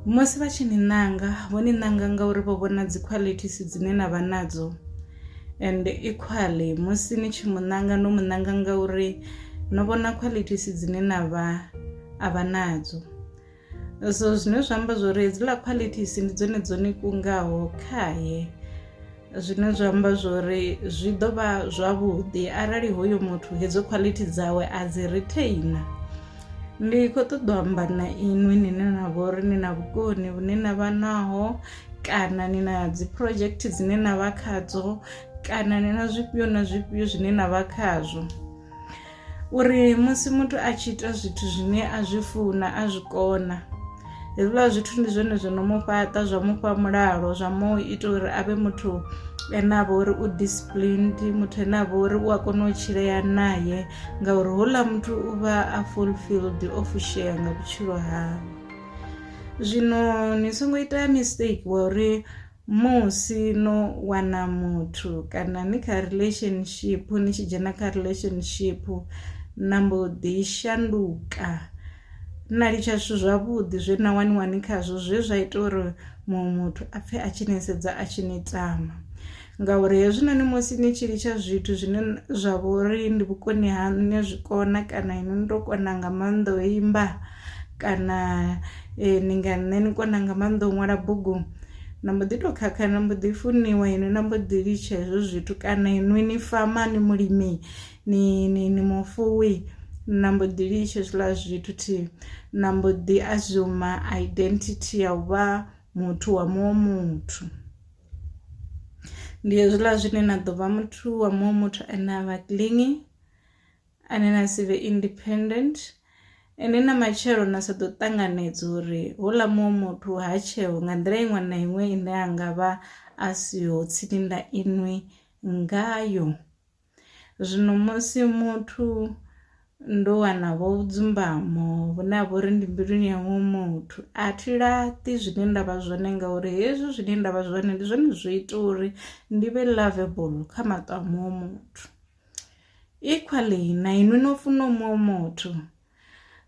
Musi vha tshi ni ṋanga vho ni ṋanga ngauri vho vhona dzi qualities dzine na vha nadzo and equally musi ni tshi mu ṋanga no mu ṋanga ngauri no vhona qualities dzine na vha a vha nadzo so zwine zwa amba zwori hedziḽa qualities ndi dzone dzo ni kungaho khaye zwine zwa amba zwori zwi ḓo vha zwavhuḓi arali hoyo muthu hedzo quality dzawe a dzi retainer ndi khou ṱoḓa u amba na inwi nine na vho uri ni na vhukoni vhune na vha naho kana ni na dzi project dzine na vha khadzo kana ni na zwifhio na zwifhio zwine na vha khazwo. uri musi muthu a tshi ita zwithu zwine a zwi funa a zwi kona hezwiḽa zwithu ndi zwone zwo no mu fhaṱa zwa mufha mulalo zwa mu ita uri a vhe muthu ene a vha uri u disciplined muthu ene a vha uri u a kona u tshilea naye ngauri houḽa muthu u vha a fulfilled o fushea nga vhutshilo hawe zwino ni songo ita mistake wa uri Musi no wana muthu kana ni kha relationship ni tshi dzhena kha relationship na mbo ḓi shanduka na litsha zwithu zwavhuḓi zwe na waniwa ni khazwo zwe zwa ita uri muṅwe muthu a pfhe a tshi ni sedza a tshi ni tama ngauri hezwinoni musi ni tshi litsha zwithu zwine zwa vha uri ndi vhukoni ha nṋe zwikona kana inwi ndo kona nga maanḓa o imba Kana ni nga nṋe ni kona nga maanḓa u ṅwala bugu, na mbo ḓi to khakha na mbo ḓi funiwa inwi na mbo ḓi litsha hezwo zwithu kana inwi ni fama ni mulimi ni ni ni mufuwi na mbo ḓi litsha hezwiḽa zwithu thi na mbo ḓi assume identity ya u vha muthu wa muṅwe muthu. Ndi hezwiḽa zwine na ḓo vha muthu wa muṅwe muthu ane avha kiḽini. ane na si vhe independent ende na matshelo na sa ḓo ṱanganedza uri houḽa muṅwe muthu ha tsheo nga nḓila iṅwe na iṅwe ine a nga vha a siho tsini na inwi ngayo zwino musi muthu ndo wana vho dzumbamo vhune ha vha uri ndi mbiluni ya muṅwe muthu a thi laṱi zwine nda vha zwone ngauri hezwi zwine nda vha zwone ndi zwone zwo ita uri ndi vhe lovable kha maṱo a muṅwe muthu. Equally na inwi no funa muṅwe muthu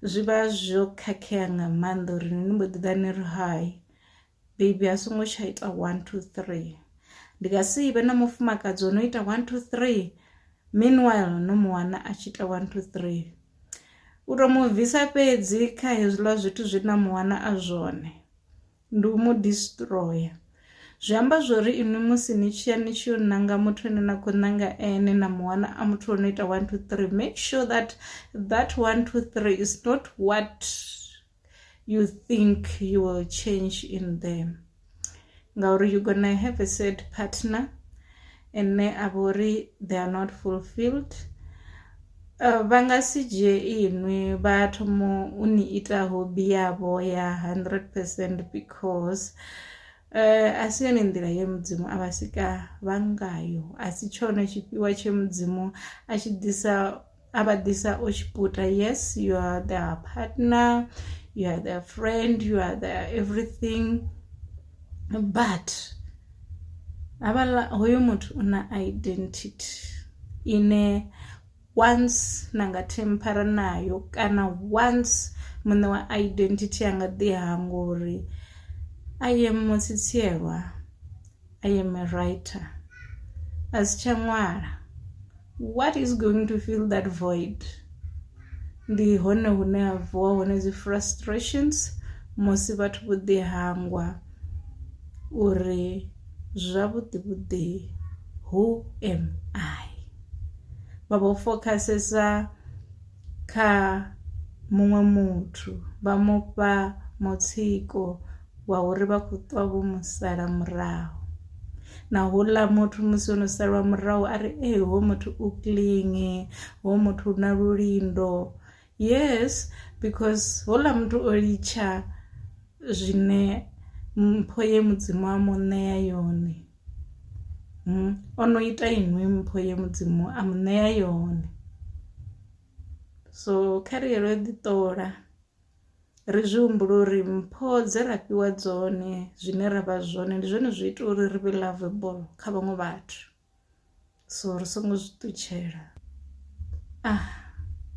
zwi vha zwo khakhea nga maanḓa uri ni mbo ḓi ḓa ni ri hai bebi a songo tsha ita one two three ndi nga si vhe na mufumakadzi o no ita one two three meanwhile no mu wana a tshi ita one two three u to mu bvisa fhedzi kha hezwiḽa zwithu zwe na mu wana a zwone. Ndi u mu distroya. Zwi amba zwori inwi musi ni tshiya ni tshi yo nanga muthu ane na khou nanga ene na muwana a muthu ono ita 1 2 3 make sure that that 1 2 3 is not what you think you will change in them ngauri you gonna have a sad partner ine a vha uri they are not fulfilled vha nga si dzhie inwi vha thoma u ni ita hobby yavho ya 100 percent because uh, a si yone nḓila ye mudzimu a vha sika vha ngayo a si tshone tshifhiwa tshe mudzimu a tshi ḓisa a vha ḓisa o tshiputa yes you are their partner you are their friend you are their everything but havhala hoyo muthu u na identity ine once na nga themphara nayo kana once muṋe wa identity a nga ḓi hangwa uri I am Mutsitsielwa. I am a writer. A si tsha ṅwala. What is going to fill that void? Ndi hone hune ha vuwa hone dzi frustrations musi vhathu vho ḓi hangwa uri zwavhuḓi vhuḓi who am I? Vha vho fokhasesa kha muṅwe muthu vha mufha mutsiko wa uri vha kho ṱwa vho mu sala murahu na houḽa muthu musi ono salwa murahu a ri ee ho muthu u clean ho muthu u na lulindo yes because houḽa muthu o litsha zwine mpho ye mudzimu a mu ṋea yone hmm, o no ita inwi mpho ye mudzimu a mu ṋea yone so kha ri yelo ḓi ṱola ri zwi humbula uri mpho dze ra fhiwa dzone zwine ra vha zwone ndi zwone zwi ita uri ri vhe lovable kha vhaṅwe vhathu so ri songo zwi ṱutshela ah.